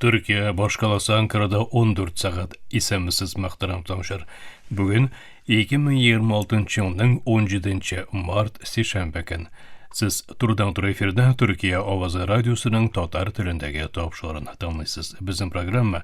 Төркия башкаласы Анкарада 14 сәгать исәмсез мактарам тамшыр. Бүген 2026 елның 17 март сишәмбе көн. Сез турыдан туры эфирда Төркия авазы радиосының татар телендәге тапшырыгын тыңлыйсыз. Безнең программа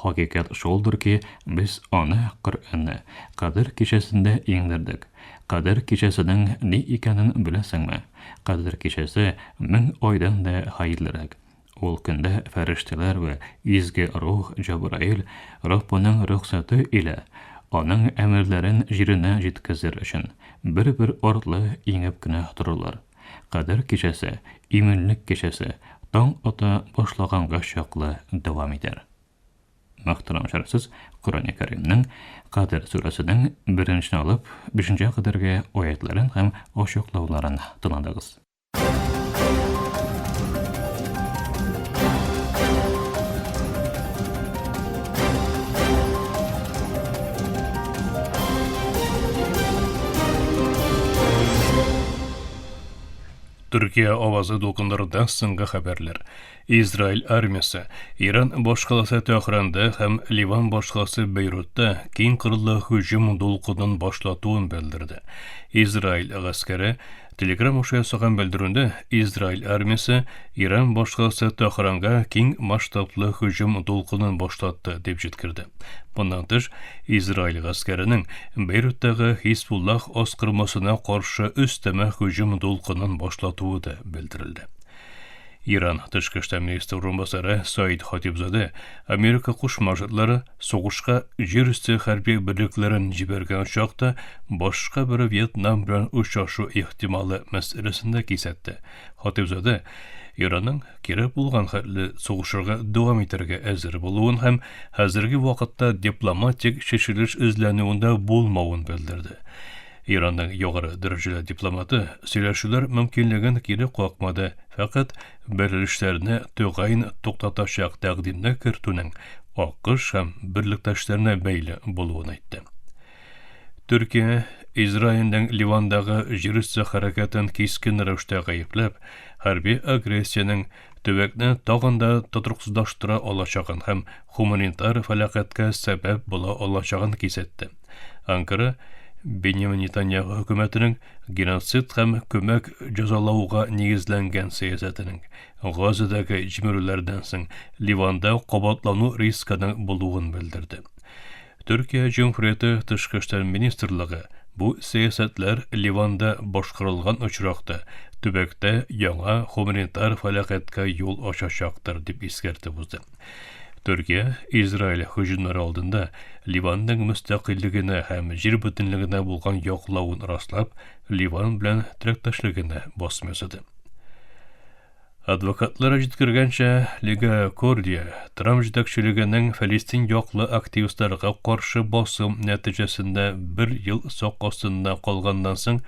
Хакыйкать шулдыр ки, без аны, Коръәнне, Кадер кичәсендә иңдердек. Кадер кичәсенең ни икәнен беләсеңме? Кадер кичәсе мең айдан да хәерлерәк. Ул көндә фәрештәләр вә изге рух Җәбраил Раббының рөхсәте илә, Аның әмерләрен җиренә җиткезер өчен, бер-бер артлы иңеп кенә торырлар. Кадер кичәсе, иминлек кичәсе таң ата башлаганга чаклы дәвам итәр. Мөхтәрәм шәрәфсез, Коръәни Кәримнең Кадер сүрәсенең беренче алып бишенче кадәрге аятларын һәм ачыклауларын тыңладыгыз. Төркия авазы дулкындыруда соңгы хәбәрләр. Израиль армиясе Иран башкаласы Тәһранда һәм Ливан башкаласы Бейрутта киң кырлы һөҗүм дулкынын башлатуын белдерде. Израиль гаскәре Telegram аша ясаган белдерүендә Израиль армиясе Иран башкаласы Тахранга киң масштаблы һөҗүм дулкынын башлатты дип җиткерде. Моннан тыш, Израиль гаскәренең Бейруттагы Хисбуллах аскырмасына каршы өстәмә һөҗүм дулкынын башлатуы да белдерелде. Иран тышкы эшләр министры урынбасары Саид Хатибзаде Америка Кушма Штатлары Сугышка җир өсте хәрби берлекләрен җибәргән очак та башка бер Вьетнам белән очрашу ихтималы мәсьәләсен дә кисәтте. Хатыйбзадә Иранның кирәк булган хәтле сугышырга дәвам итәргә әзер булуын һәм хәзерге вакытта дипломатик чишелеш эзләнүен дә булмавын белдерде. Иранның югары дәрәҗәле дипломаты сөйләшүләр мөмкинлеген кире какмады, фәкать Бәрелешләрне тәгаен туктатачак тәкъдимне кертүнең АКШ һәм берлектәшләренә бәйле булуын әйтте. Төркия Израильнең Ливандагы җирөсте хәрәкәтен кискен рәвештә гаепләп, хәрби агрессиянең төбәкне тагын да тотрыксызлаштыра алачагын һәм хуманитар фәлакатькә сәбәп була алачагын кисәтте. Анкара Беньямин Нетаньяху хөкүмәтенең геноцид һәм көмәк җәзалауга нигезләнгән сәясәтенең Газадагы җимерүләрдән соң Ливанда кабатлану рискының булуын белдерде. Төркия Җөмһүрияте Тышкы эшләр министрлыгы бу сәясәтләр Ливанда башкарылган очракта төбәктә яңа гуманитар фәләкатькә юл ачачактыр дип искәртеп узды. Төркия Израиль һөҗүмнәре алдында Ливанның мөстәкыйльлегенә һәм җир бөтенлегенә булган яклавын раслап, Ливан белән теләктәшлегенә басым ясады. Адвокатлар җиткергәнчә, Лига Кордия Трамп җитәкчелегенең Фәлестин яклы активистларга каршы басым нәтиҗәсендә бер ел сак астында калганнан соң,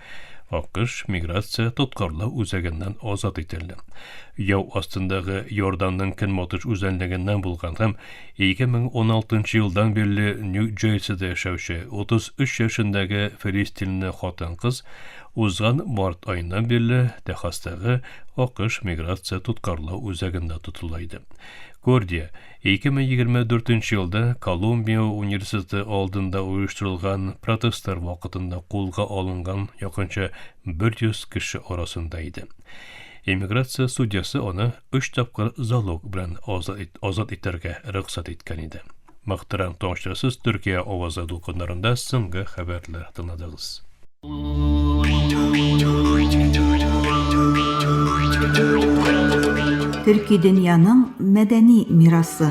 АКШ миграция тоткарлау үзәгеннән азат ителде. Яу астындагы Иорданның көнбатыш үзәнлегеннән булган һәм 2016 елдан бирле Нью-Джерсида яшәүче 33 яшендәге филистинле хатын-кыз узган март аеннан бирле Техастагы АКШ миграция тоткарлау үзәгендә тотыла иде. Кордия 2024 елда Колумбия университеты алдында оештырылган протестлар вакытында кулга алынган якынча 100 кеше арасында иде. Эмиграция судьясы аны өч тапкыр залог белән азат, ит, азат итәргә рөхсәт иткән иде. Мөхтәрәм томашчысыз Төркия авазы дулкыннарында соңгы хәбәрләр тыңладыгыз. Төрки дөньяның мәдәни мирасы.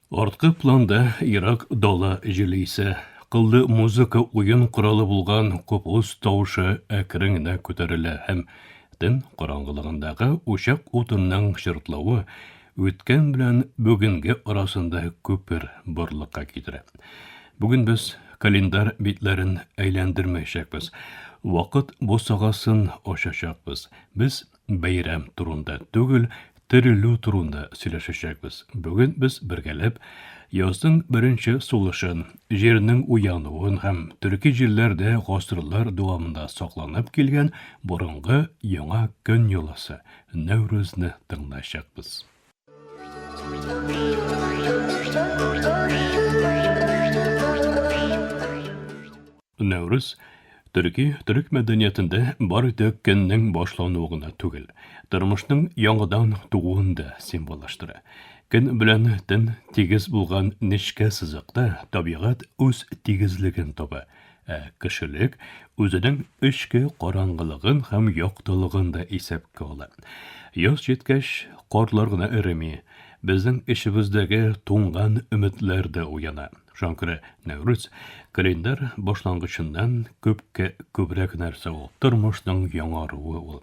Арткы планда ерак дала җиле исә, кыллы музыка уен коралы булган купус тавышы әкрен генә күтәрелә һәм төн караңгылыгындагы учак утынның чыртлавы үткән белән бүгенге арасында күпер барлыкка китерә. Бүген без календарь битләрен әйләндермәячәкбез. Вакыт бусагасын ачачакбыз. Без Бәйрәм турында түгел, терелү турында сөйләшәчәкбез. Бүген без бергәләп язның беренче сулышын, җирнең уянуын һәм төрки җирләрдә гасырлар дәвамында сакланып килгән борынгы яңа көн йоласы, Нәүрүзне тыңлаячакбыз. Нәүрүз төрки төрек мәдәниятендә бары тик көннең башлануы гына түгел, тормышның яңадан тууын да символлаштыра. Көн белән төн тигез булган нечкә сызыкта табигать үз тигезлеген таба Ә кешелек үзенең эчке караңгылыгын һәм яктылыгын да исәпкә ала. Яз җиткәч, карлар гына эреми, безнең эчебездәге туңган өметләр дә уяна. Шуңа күрә Нәүрүз календарь башлангычыннан күпкә күбрәк нәрсә ул, тормышның яңаруы ул.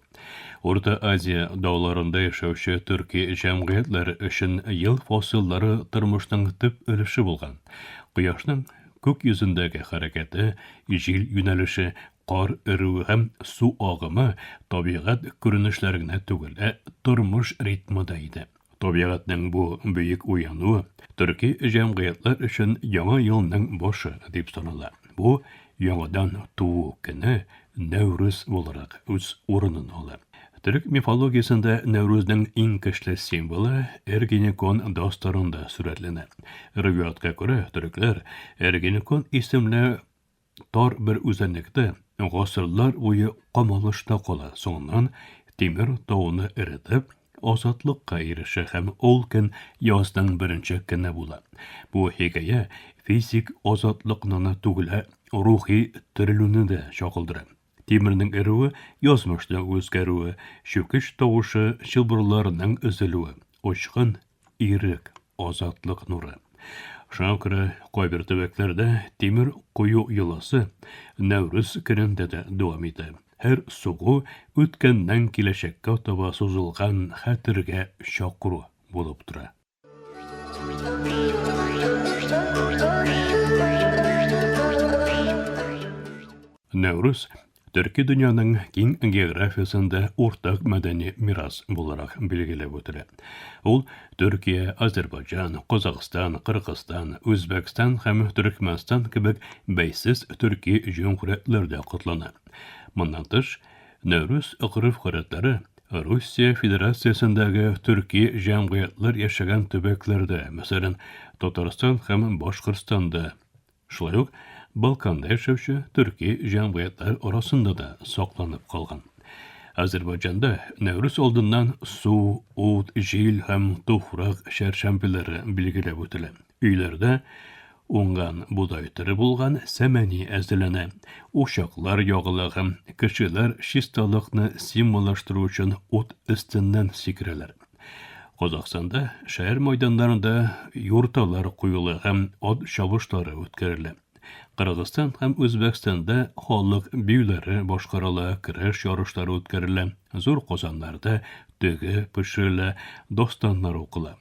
Урта Азия дауларында яшәүче төрки җәмгыятьләр өчен ел фасыллары тормышның төп өлеше булган. Кояшның Күк йөзендәге хәрәкәте, җил юнәлеше, кар өрүе һәм су агымы табигать күренешләре генә түгел, ә тормыш ритмы да иде. Табигатьнең бу бөек уянуы төрки җәмгыятьләр өчен Яңа елның башы дип санала. Бу, яңадан туу көне, Нәүрүз буларак үз урынын ала. Төрек мифологиясендә Нәүрүзнең иң көчле символы Эргенекон дастарында сурәтләнә. Риваятка күрә, төрекләр Эргенекон исемле тар бер үзәнлектә гасырлар буе камалышта кала, соңыннан Тимер тауны эретеп, азатлыкка ирешә һәм ул көн язның беренче көне була. Бу хикәя физик азатлыкны гына түгел, ә рухи терелүне дә чагылдыра. Тимернең эрүе, язмышның үзгәрүе, чүкеч тавышы, чылбырларның өзелүе, очкын, ирек, азатлык нуры. Шуңа күрә кайбер төбәкләрдә тимер кую йоласы Нәүрүз көнендә дә дәвам итә. Һәр сугу үткәннән киләчәккә таба сузылган хәтергә чакыру булып тора. Нәүрүз төрки дөньяның киң географиясендә уртак мәдәни мирас буларак билгеләп үтелә. Ул Төркия, Азербайджан, Казахстан, Кыргызстан, Үзбәкстан һәм Төркмәнстан кебек бәйсез төрки җөмһүриятләрдә котлана. Моннан тыш, Нәүрүз гореф-гадәтләре Русия Федерациясендәге төрки җәмгыятьләр яшәгән төбәкләрдә, мәсәлән, Татарстан һәм Башкортстанда, шулай ук Балканда яшәүче төрки җәмгыятьләр арасында да сакланып калган. Азербайҗанда Нәүрүз алдыннан су, ут, җил һәм туфрак чәршәмбеләре билгеләп үтелә. Өйләрдә уңган бодай төре булган сәмәни әзерләнә. Учаклар ягыла һәм кешеләр чисталыкны символлаштыру өчен ут өстеннән сикерәләр. Казахстанда шәһәр майданнарында юрталар куела һәм ат чабышлары үткәрелә. Кыргызстан һәм Үзбәкстанда халык биюләре башкарыла, көрәш ярышлары үткәрелә, зур казаннарда төге пешерелә, достаннар укыла.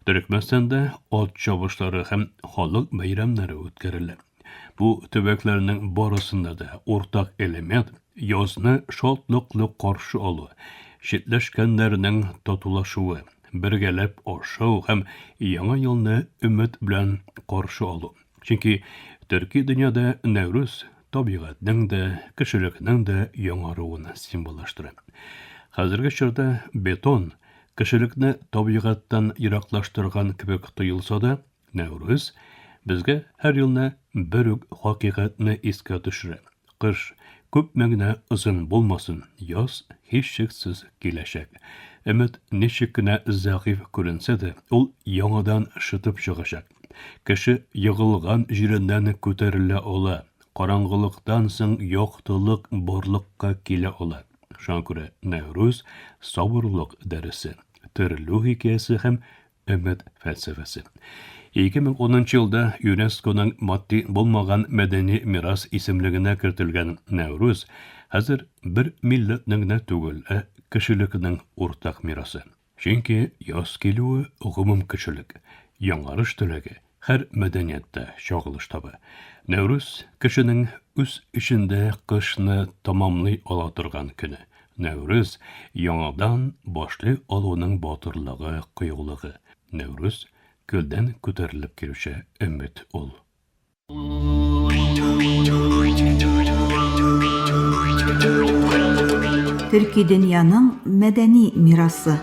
Төрекмәстанда ат чабышлары һәм халык бәйрәмнәре үткәрелә. Бу төбәкләрнең барысында да уртак элемент язны шатлыклы каршы алу, читләшкәннәрнең татулашуы, бергәләп ашау һәм яңа елны өмет белән каршы алу. Чөнки төрки дөньяда Нәүрүз табигатьнең дә, кешелекнең дә яңаруын символлаштыра. Хәзерге чорда бетон кешелекне табигатьтан ераклаштырган кебек тоелса да, Нәүрүз безгә һәр елны бер үк хакыйкатьне искә төшерә. Кыш күпме генә озын булмасын, яз һичшиксез киләчәк. Өмет ничек кенә зәгыйфь күренсә дә, ул яңадан шытып чыгачак. Кеше егылган җиреннән күтәрелә ала, караңгылыктан соң яктылык барлыкка килә ала. Шуңа күрә Нәүрүз, сабырлык дәресе, терелү хикәясе һәм өмет фәлсәфәсе. 2010 елда ЮНЕСКОның матди булмаган мәдәни мирас исемлегенә кертелгән Нәүрүз хәзер бер милләтнең генә түгел, ә кешелекнең уртак мирасы. Чөнки яз килүе гомум кешелек, яңарыш теләге, Һәр мәдәниятта чагылыш таба. Нәүрүз, кешенең үз эчендә кышны тәмамлый ала торган көне. Нәүрүз, яңадан башлый алуның батырлыгы, кыюлыгы. Нәүрүз, көлдән күтәрелеп килүче өмет ул. Төрки дөньяның мәдәни мирасы.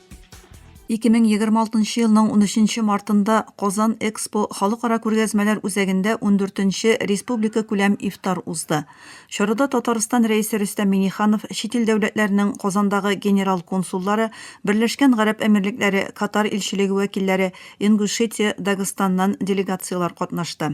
2026 елның 13 мартында Казан Экспо халыкара күргәзмәләр үзәгендә 14-нче республикакүләм ифтар узды. Чарада Татарстан Рәисе Рөстәм Миңнеханов, чит ил дәүләтләренең Казандагы генерал консуллары, Берләшкән Гарәп Әмирлекләре, Катар илчелеге вәкилләре, Ингушетия, Дагыстаннан делегацияләр катнашты.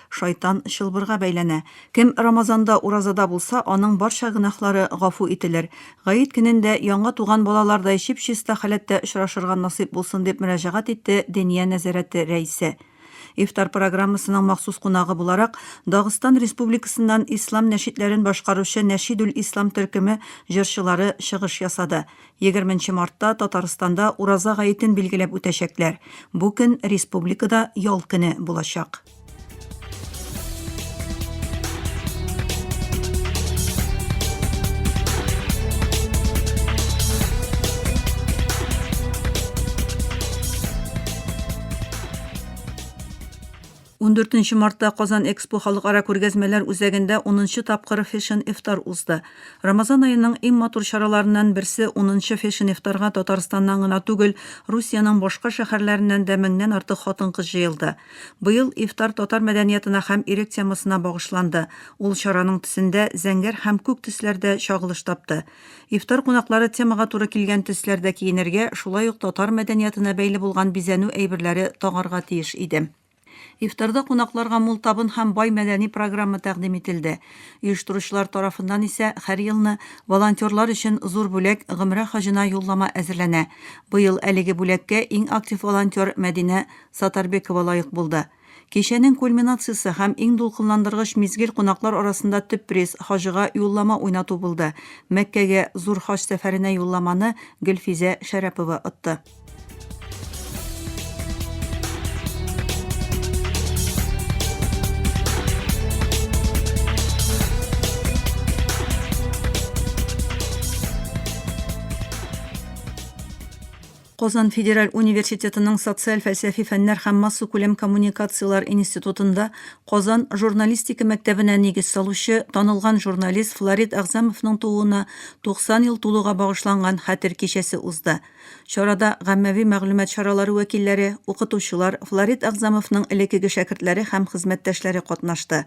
Шайтан чылбырга бәйләнә. Кем Рамазанда уразада булса, аның барча гөнаһлары гафу ителер. Гает көнендә яңа туган балалардай чип-чиста халәттә очрашырга насыйп булсын, дип мөрәҗәгать итте Дения нәзарәте рәисе. Ифтар программасының махсус кунагы буларак, Дагыстан Республикасыннан ислам нәшидләрен башкаручы Нәшидүл Ислам төркеме җырчылары чыгыш ясады. Егерме нче мартта Татарстанда Ураза гаетен билгеләп үтәчәкләр. Бу көн республикада ял көне булачак. 14 мартта Казан Экспо халыкара күргәзмәләр үзәгендә 10 тапкыр Fashion Iftar узды. Рамазан аеның иң матур чараларыннан берсе 10 Fashion Iftarга Татарстаннан гына түгел, Русиянең башка шәһәрләреннән дә меңнән артык хатын-кыз җыелды. Быел ифтар татар мәдәниятына һәм ирек темасына багышланды. Ул чараның төсендә зәңгәр һәм күк төсләр дә чагылыш тапты. Ифтар кунаклары темага туры килгән төсләрдә киенергә, шулай ук татар мәдәниятына бәйле булган бизәнү әйберләре тагарга тиеш иде. Ифтарда кунакларга мул табын һәм бай мәдәни программа тәкъдим ителде. Оештыручылар тарафыннан исә һәр елны волонтерлар өчен зур бүләк, гомрә хаҗына юллама әзерләнә. Быел әлеге бүләккә иң актив волонтер Мәдинә Сатарбекова лаек булды. Кичәнең кульминациясе һәм иң дулкынландыргыч мизгел кунаклар арасында төп приз, хаҗыга юллама уйнату булды. Мәккәгә Зур хаҗ сәфәренә юлламаны Гөлфизә Шәрәпова отты. Казан федераль университетының социаль-фәлсәфи фәннәр һәм массакүләм коммуникацияләр институтында Казан журналистика мәктәбенә нигез салучы, танылган журналист Флорид Әгъзамовның тууына 90 ел тулуга багышланган хәтер кичәсе узды. Чарада гаммәви мәгълүмат чаралары вәкилләре, укытучылар, Флорид Әгъзамовның элеккеге шәкертләре һәм хезмәттәшләре катнашты.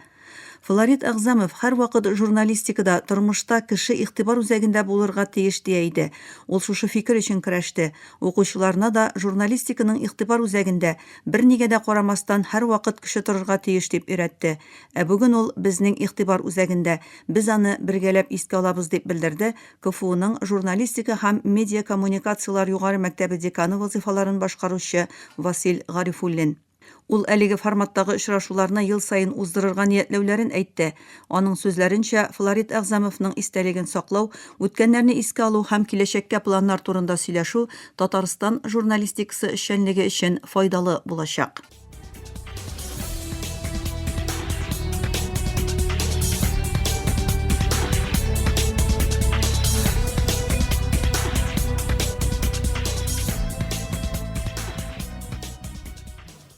Флорид Әгъзамов һәрвакыт журналистикада, тормышта кеше игътибар үзәгендә булырга тиеш дия иде. Ул шушы фикер өчен көрәште. Укучыларына да журналистиканың игътибар үзәгендә, бернигә дә карамастан, һәрвакыт кеше торырга тиеш дип өйрәтте. Ә бүген ул безнең игътибар үзәгендә, без аны бергәләп искә алабыз, дип белдерде КФУның журналистика һәм медиакоммуникацияләр югары мәктәбе деканы вазыйфаларын башкаручы Васил Гарифуллин. Ул әлеге форматтагы очрашуларны ел саен уздырырга ниятләүләрен әйтте. Аның сүзләренчә, Флорид Әгъзамовның истәлеген саклау, үткәннәрне искә алу һәм киләчәккә планнар турында сөйләшү Татарстан журналистикасы эшчәнлеге өчен файдалы булачак.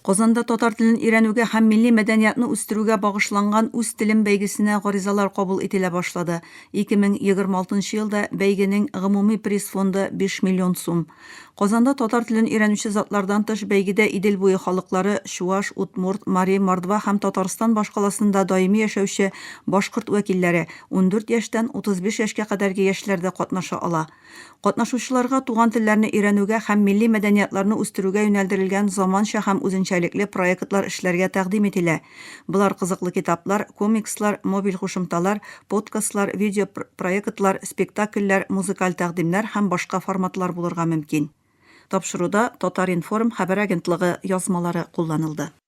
Казанда татар телен өйрәнүгә һәм милли мәдәниятны үстерүгә багышланган Үз телем бәйгесенә гаризалар кабул ителә башлады. 2026 елда бәйгенең гомуми приз фонды 5 миллион сум. Казанда татар телен өйрәнүче затлардан тыш бәйгедә Идел буе халыклары, чуаш, удмурт, мари, мордва һәм Татарстан башкаласында даими яшәүче башкорт вәкилләре, ундүрт яшьтән 35 яшькә кадәрге яшьләр дә катнаша ала. Катнашучыларга туган телләрне өйрәнүгә һәм милли мәдәниятларны үстерүгә юнәлдерелгән заманча һәм үзенчәлекле проектлар эшләргә тәкъдим ителә. Болар кызыклы китаплар, комикслар, мобиль кушымталар, подкастлар, видео проектлар, спектакльләр, музыкаль тәкъдимнәр һәм башка форматлар булырга мөмкин. Тапшыруда Татар-информ хәбәр агентлыгы язмалары кулланылды.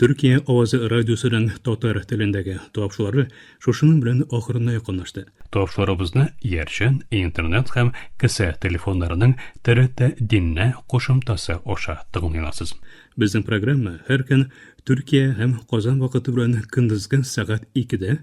Төркия авазы радиосының татар телендәге тапшылары шушының белән ахырына якынлашты. Тапшыларыбызны Ярчан, Интернет һәм кесә телефоннарының ТРТ Диннә кушымтасы аша тыңлый аласыз. Безнең программа һәр көн Төркия һәм Казан вакыты белән көндезге сәгать икедә,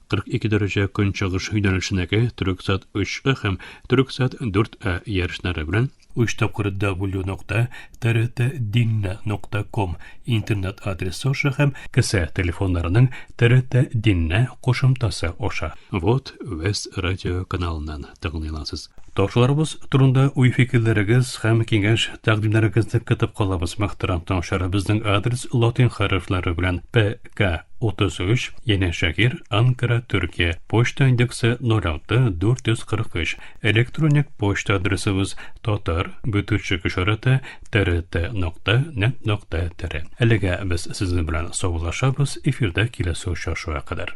42 дәрәҗә көнчыгыш юнәлешенәге Төрексат 3А һәм Төрексат 4А ярышлары белән 3 тапкыр w.trtdinna.com интернет адресы аша һәм кесә телефоннарының trtdinna кушымтасы аша. Вот Вест радио каналыннан тыңлыйласыз. Ташларыбыз турында уй-фикерләрегез һәм киңәш тәкъдимнәрегезне көтеп калабыз, мөхтәрәм тыңлаучылар. Безнең адрес латин хәрефләре белән P К. 33, янәшә гир, Анкара, Төркия. Почта индексы 06 443. Электроник почта адресыбыз татар бөтүчек ишараты трт нокта нет нокта тире. Әлегә без сезнең белән саубуллашабыз, эфирда киләсе очрашуга кадәр.